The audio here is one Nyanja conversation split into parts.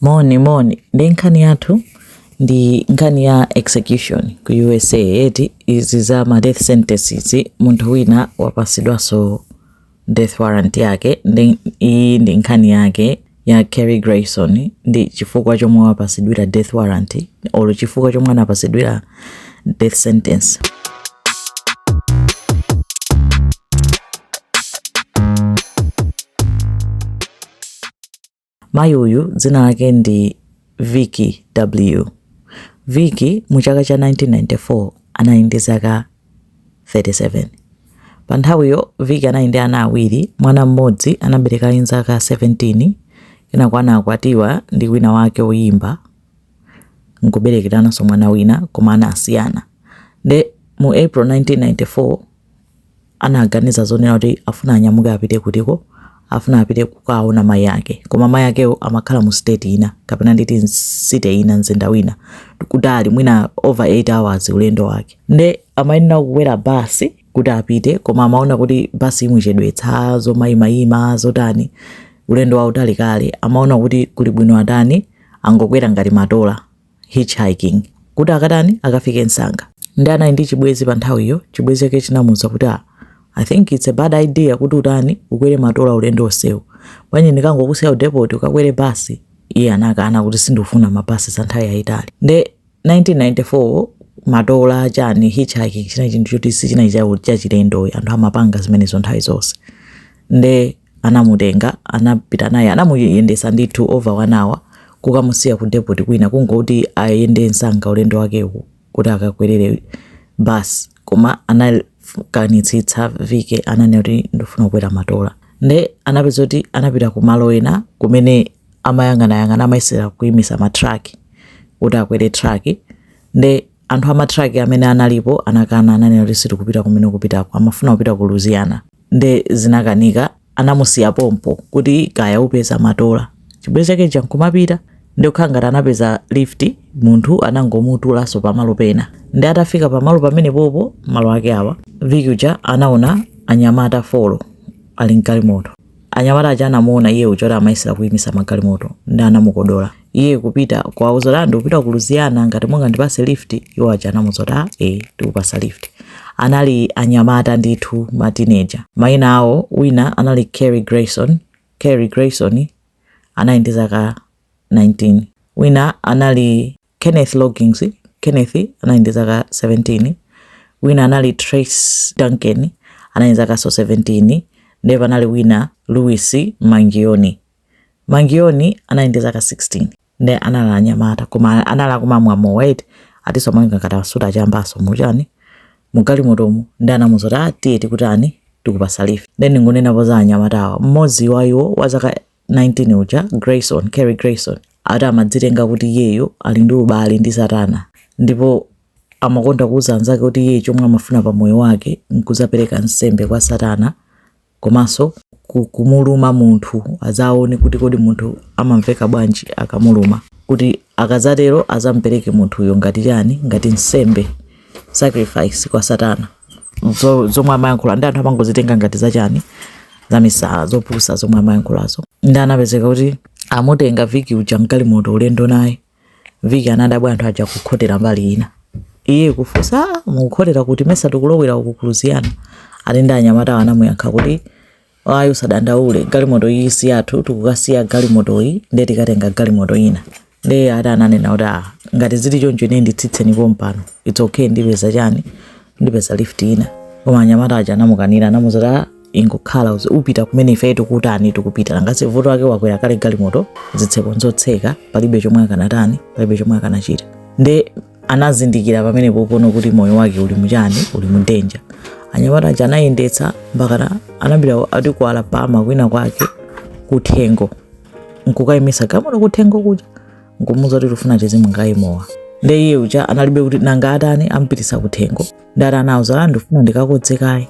Moni moni ndi nkhani yathu ndi nkhani ya execution ku USA eti izi za ma death sentence izi munthu wina wapasidwaso death warrant yake ndi iyi ndi nkhani yake ya Kerry Grayson ndi chifukwa chomwe wapasidwira death warrant olo chifukwa chomwe anapasidwira death sentence Mayi uyu dzina lake ndi Vicki Deblieux. Vicki mu chaka cha 1994 anali ndi zaka 37. Pa nthawiyo Vicki anali ndi ana awiri, mwana mmodzi anabereka ali ndi zaka 17, kenako anakwatiwa ndi wina wake woyimba nkuberekerananso mwana wina koma anasiyana. Nde mu April 1994 anaganiza zonena kuti afuna anyamuke apite kutiko afuna apite kukaona mai ake koma mai akewo amakhala mu state ina kapena nditi mcity ina mzinda wina kutali mwina over 8 hours ulendo wake nde amayenera kukwera basi kuti apite koma amaona kuti basi imuchedwetsa zomayimayima zotani ulendo wautali kale amaona kuti kulibwino atani angokwera ngati matola hitchhiking kuti akatani akafike msanga ndi anali ndi chibwezi pa nthawiyo chibwezi chake chinamuza kuti ah, i think it's a bad idea kuti utani ukwere matola ulendo onsewu bwanji ndikangokusiya kudepoti ukakwere basi iye anakana kuti sindifuna mabasi za nthawi yayitali nde 1994 matola chani hitchhiking chinali chinthu choti sichinali chachilendo anthu amapanga zimenezo nthawi zonse nde anamutenga anapita naye anamuyendesa ndithu over one hour kukamusiya ku depot kwina kungoti ayende msanga ulendo wakewu kuti akakwerere bus koma anakanitsitsa Vicki ananena kuti ndifuna kukwera matola nde anapeza kuti anapita ku malo ena kumene amayang'anayang'ana amayesera kuimisa matraki kuti akwere traki nde anthu amatraki amene analipo anakana ananena kuti sitikupita kumene kupitako amafuna kupita ku louisiana nde zinakanika anamusiya pompo kuti kaya upeza matola chibwezi chake chija nkumapita ndi kukhala ngati anapeza lift munthu anangomutulanso pamalo pena ndi atafika pamalo pamene popo malo ake awa Vicki uja anaona anyamata folo ali mgalimoto Anyamata aja anamuona iye uja kuti amayesera kuyimitsa magalimoto ndi anamukodola iye kupita kuwauza kuti ndikupita ku Louisiana ngati mungandipase lift. Iwo aja anamuza kuti ah, eh, tikupasa lift. Anali anyamata ndithu ma teenager. Mayina awo wina anali Kerry Grayson, Kerry Grayson anali ndi zaka 19. Wina anali Kenneth Loggins, Kenneth anali ndi zaka 17, wina anali Trace Duncan anali ndi zakanso 17, ndipo panali wina Louis Mangione. Mangione anali ndi zaka 16 ndi anali anyamata koma anali kumamwa mowa eti atinso amaoneka ngati asuta achambaso muchani mugalimotomu nde anamuuza kuti ah tiye tikutani tikupasa lift nde ndingonenapo za anyamatawa mmodzi wa iwo wa zaka 19 uja Grayson Carey Grayson ati amadzitenga kuti iyeyo ali ndi ubale ndi satana ndipo amakonda kuuza anzake kuti iye chomwe amafuna pa moyo wake nkuzapereka nsembe kwa satana komanso ku- kumuluma munthu azaone kuti kodi munthu amamveka bwanji akamuluma kuti akazatero azampereke munthuyo ngati chani ngati nsembe sacrifice kwa satana zo, zomwe amayankhula ndi anthu amangozitenga ngati zachani zamisala zopusa zomwe amayankhulazo ndi anapezeka kuti amutenga Vicki uja mgalimoto ulendo naye Vicki anadabwa anthu aja kukhotera mbali ina iye kufunsa "Ah, mukukhotera kuti mesa tikulowera uku ku Louisiana ati ndi anyamatawo anamuyankha kuti Ayi usadandaule galimoto iyi si yathu tikukaisiya galimotoyi nde tikatenga galimoto ina nde ati ananena kuti ah ngati zili choncho ine nditsitseni pompano its okay ndipeza chani ndipeza lift ina koma anyamata aja anamukanira anamuuza kuti ah ingokhala uzi- upita kumene ife tikutani tikupita nanga si vuto lake wakwera kale galimoto zitseko nzotseka palibe chomwe akanatani palibe chomwe akanachita nde anazindikira pamene pompano kuti moyo wake uli muchani uli mu danger anyamata aja anayendetsa mpakana anapita ati ku alabama kwina kwake kuthengo nkukayimisa galimoto kuthengo kuja nkumuuza kuti tifuna tizimwa kaye mowa nde iye uja analibe kuti nanga atani ampitisa kuthengo nde ati anawauza ndifuna ndikakodze kaye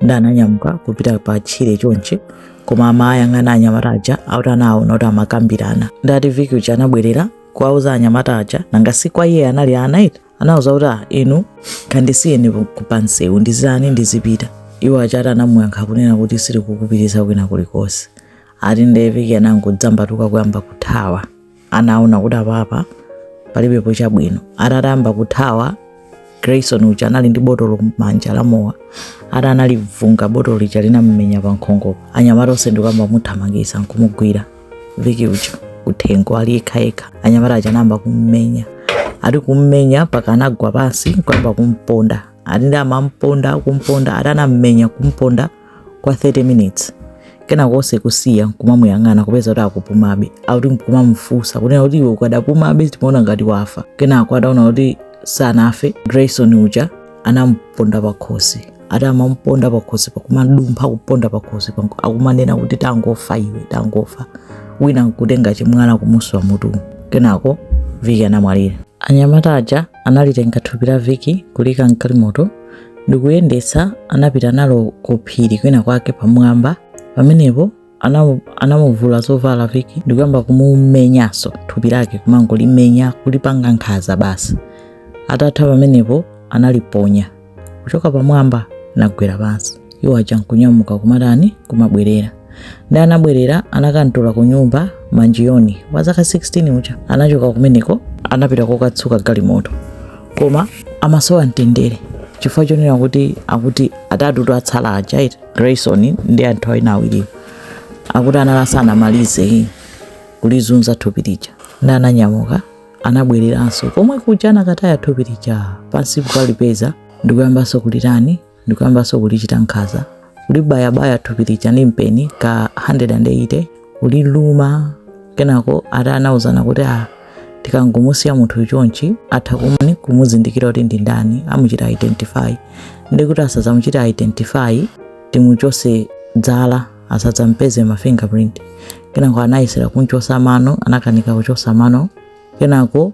nde ananyamuka kupita pa tchire chonchi koma amayang'ana anyamata aja ati anaona kuti amakambirana nde ati Vicki uja anabwerera kuwauza anyamata aja nanga si kwa iye anali ana eti anawauza kuti ah, inu kandisiyeni pansewu ndizitani ndizipita iwo aja ati anamuyankha kunena kuti sitikukupitisa kwina kulikonse ati nde Vicki anangodzambatuka kuyamba kuthawa anaona kuti apapa palibepo chabwino atayamba kuthawa grayson uja anali ndi botolo m'manja la mowa ati analivunga botolo lija linamumenya pa nkhongopo anyamata onse ndikuyamba kumuthamangisa nkumugwira Vicki uja kuthengo ali yekhayekha anyamata aja anayamba kummenya ati kummenya mpaka anagwa pansi nkuyamba kumponda ati nde amamponda kumponda ati anammenya kumponda kwa 30 minutes kenako onse kumusiya nkumamuyang'ana kupeza kuti akupumabe akuti nkumamufunsa kunena kuti iwe ukadapumabe timaona ngati wafa kenako ataona kuti sanafe grayson uja anamuponda pakhosi ati amamuponda pakhosi pakumadumpha kuponda pakhosi panko akumanena kuti tangofa iwe tangofa wina nkutenga chimwana kumuswa mutu kenako viki anamwalira anyamata aja analitenga thupi la viki kulika mkalimoto ndikuyendetsa anapita nalo ku phiri kwina kwake pamwamba pamenepo anamu- anamuvula zovala viki ndikuyamba kumumenyanso thupi lake kumangolimenya kulipanga nkhanza basi atatha pamenepo analiponya kuchoka pamwamba nagwera pansi iwo aja nkunyamuka kumatani kumabwerera ndi anabwerera anakamtula ku nyumba manjiyoni wa zaka 16 uja anachoka kumeneko anapita kokatsuka galimoto koma amasowa mtendere chifukwa chonena kuti akuti atatu otsala aja ati grayson ndi anthu awina awiriwo akuti anali asanamalize kulizunza thupi lija ndi ananyamuka anabwereranso komwe kuja anakataya thupi lija pansi kukalipeza ndikuyambanso kulitani ndikuyambanso kulichita nkhanza kulibayabaya thupi lija ndi mpeni ka 180 kuliluma kenako ati anauzana kuti a tikangomusiya munthu chonchi atha kumani kumuzindikira kuti ndi ndani amuchita identify ndi kuti asadzamuchita identify timuchose zala asadzampeze ma fingerprint kenako anayesera kunchosa mano anakanika kuchosa mano kenako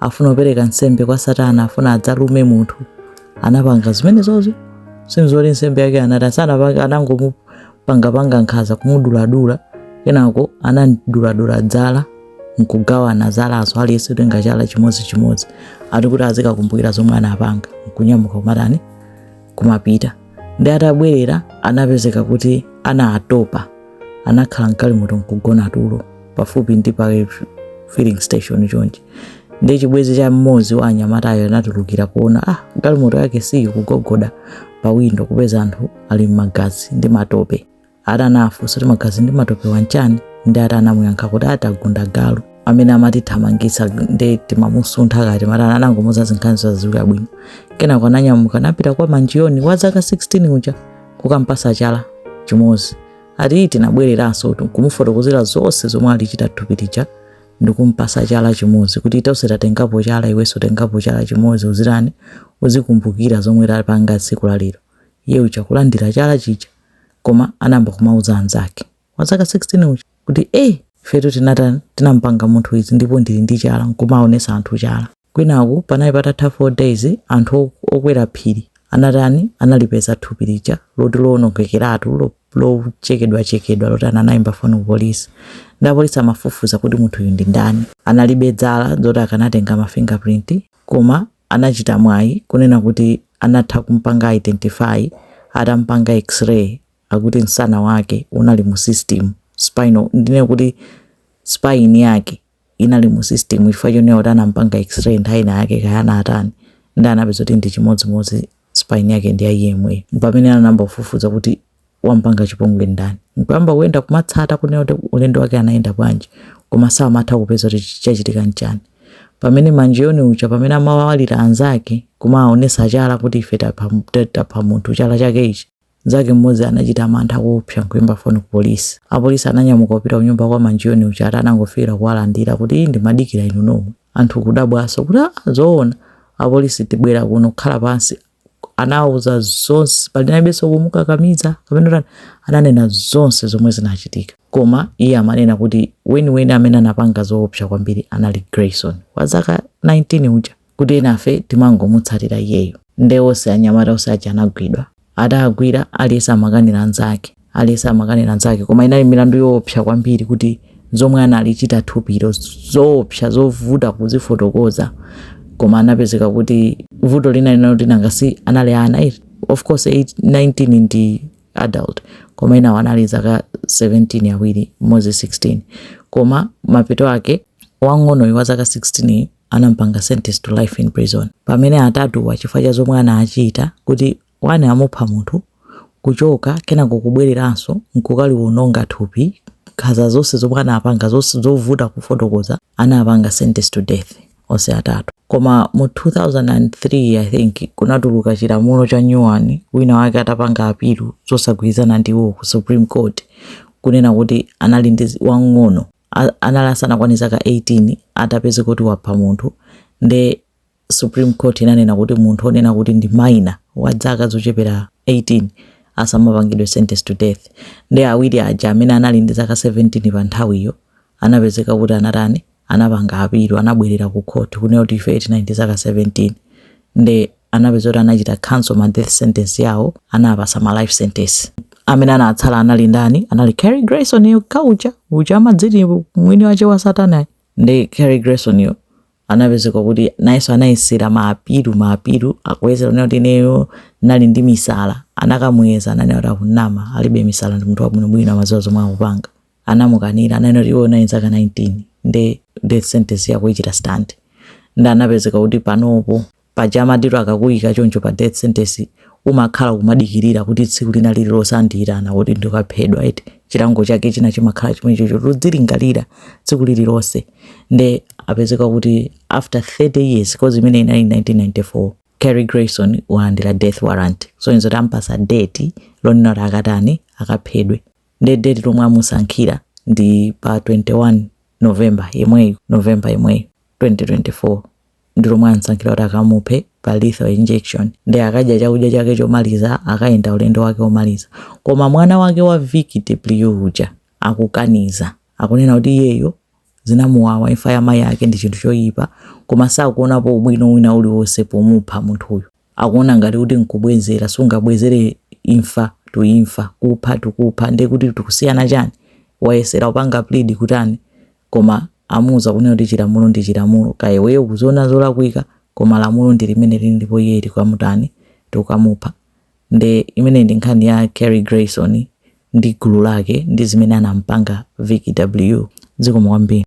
afuna kupereka nsembe kwa satana afuna adzalume munthu anapanga zimenezo sizoti nsembe yake anatani satana anangomupangapanga nkhanza kumuduladula kenako anamduladula zala nkugawana zalazo aliyense kutenga chala chimodzi chimodzi ati kuti azikakumbukira zomwe anapanga nkunyamuka kumatani kumapita ndi atabwerera anapezeka kuti anali atatopa anakhala mkalimoto nkugona tulo pafupi ndi pa filling station chonchi ndi chibwezi cha mmodzi wa anyamatayo anatulukira kuona ah galimoto yake si iyi kugogoda pa windo kupeza anthu ali mmagazi ndi matope ati anafunsa kuti magazi ndi matopewa nchani ndi ati anamuyankha kuti ati tagunda galu amene amatithamangitsa ndi timamusuntha kaya timatani anangomuza zinkhani zaziii bwino kenako ananyamuka anapita kwa manjiyoni wa zaka 16 uja kukampasa chala chimodzi ati tinabwereranso kuti kumufotokozera zonse zomwe alichita thupi lija ndikumpasa chala chimodzi kuti tonse tatengapo chala iwenso tengapo chala chimodzi uzitani uzikumbukira zomwe tapanga tsiku lalero iye uja kulandira chala chija koma anayamba kumauza anzake wa zaka 16 uja kuti eh ifetu tinatani tinampanga munthu izi ndipo ndili ndi chala nkumaonesa anthu chala kwinaku panali patatha 4 days anthu ok- okwera phiri anatani analipeza thupi lija loti lowonongekeratu lo- lochekedwachekedwa loti ana- anayimba foni ku polisi nde apolisi amafufuza kuti munthuyu ndi ndani analibe dzala zoti akanatenga ma fingerprint koma anachita mwayi kunena kuti anatha kumpanga identify atampanga x-ray akuti msana wake unali mu system spinal ndinene kuti spine yake inali mu system chifukwa chonena kuti anampanga x-ray nthawi ina yake kaya anatani nde anapeza kuti ndi chimodzimodzi spine yake ndi ya iyeyo pamene anayamba kufufuza kuti wampanga chipongwe ndani nkuyamba kuyenda kumatsata kunena kuti ulendo wake anayenda bwanji koma samatha kupeza kuti chachitika nchani pamene Mangione uja pamene amawalira anzake kumaonesa chala kuti ife tapha ta- tapha munthu chala chake ichi mnzake mmodzi anachita mantha kuopsa nkuyimba foni ku polisi apolisi ananyamuka kupita kunyumba kwa Mangione uja ati anangofikira kuwalandira kuti "Ii, ndimadikira inu nomwe anthu kudabwaso kuti "Ah, zoona apolisi kubwera kuno kukhala pansi anawuza zonse panalibenso kumukakamiza kapena ananena zonse zomwe zinachitika koma iye amanena kuti weniweni amene anapanga zoopsa kwambiri anali Grayson wa zaka 19 uja kuti enafe timangomutsatira iyeyo nde onse anyamata onse aja anagwidwa atagwira aliyense amakanira anzake Aliyense amakanira nzake, koma inali milandu yoopsa kwambiri kuti zomwe analichita thupilo zoopsa zovuta kuzifotokoza koma anapezeka kuti vuto lina linali loti nanga si anali ana eti. of course 8, 19 ndi adult koma enawo anali zaka 17 awiri mmodzi 16 koma mapeto ake wang'onoyo wa zaka 16 anampanga sentence to life in prison pamene atatuwa chifukwa cha zomwe anachita kuti 1 amupha munthu, kuchoka, kenako kubwereranso nkukaliwononga thupi, nkhanza zonse zomwe anapanga, zonse zovuta kufotokoza, anapanga sentence to death onse atatu. Koma mu 2003 I think kunatuluka chilamulo cha nyuwani, wina wake atapanga apilu zosagwirizana ndi iwo ku Supreme Court kunena kuti anali ndi wang'ono anali asanakwane zaka 18 atapezeka kuti wapha munthu nde Supreme Court inanena kuti munthu onena kuti ndi minor wa dzaka zochepera 18 asamapangidwe sentence to death. Nde awiri aja amene anali ndi zaka 17 pa nthawiyo anapezeka kuti anatani anapanga apilu anabwerera ku court kunena kuti ife tinali ndi zaka 17 nde anapeza kuti anachita cancel ma death sentence yawo anawapatsa ma life sentence amene anatsala anali ndani anali Carrie Grayson yo wamkulu uja amadziti mwini wake wa satana nde Carrie Grayson yo anapezeka kuti nayenso anayesera maapilu maapilu akuyesera kunena kuti ineyo ndinali ndi misala anakamuyeza ananena kuti akunama alibe misala ndi munthu wabwinobwino amaziwa zomwe akupanga anamukanira ananena kuti iwe unali ndi zaka 19 nde death sentence yako ichita stand nde anapezeka kuti panopo Paja amati akakuika choncho pa death sentence umakhala kumadikirira kuti tsiku lina lililonse andiyitana kuti ndikaphedwe eti chilango chake china chimakhala chomwecho choti udzilingalira tsiku lililonse nde apezeka kuti after 30 years cause imene inali 1994 Carey Grayson walandira death warrant so ndi zoti ampasa date lonena kuti akatani akaphedwe nde date lomwe amusankhira ndi pa 21 November yemweyu November yemweyu 2024 ndi lomwe amsankhira kuti akamuphe pa lethal injection nde akadya chakudya chake chomaliza akayenda ulendo wake womaliza koma mwana wake wa Vicki DeBlieux uja akukaniza akunena kuti iyeyo zinamuwawa imfa ya mayi ake ndi chinthu choyipa koma sakuonapo ubwino wina uliwonse pomupha munthuyo akuona ngati kuti nkubwezera sungabwezere imfa to imfa kupha to kupha nde kuti tikusiyana chani wayesera kupanga plead kutani koma amuuza kunena kuti chilamulo ndi chilamulo kaya iweyo ukuziona zolakwika koma lamulo ndi limene lili ndipo iye tikamutani tikamupha nde imene ndi nkhani ya Carey Grayson ndi gulu lake ndi zimene anampanga Vicki DeBlieux zikomo kwambiri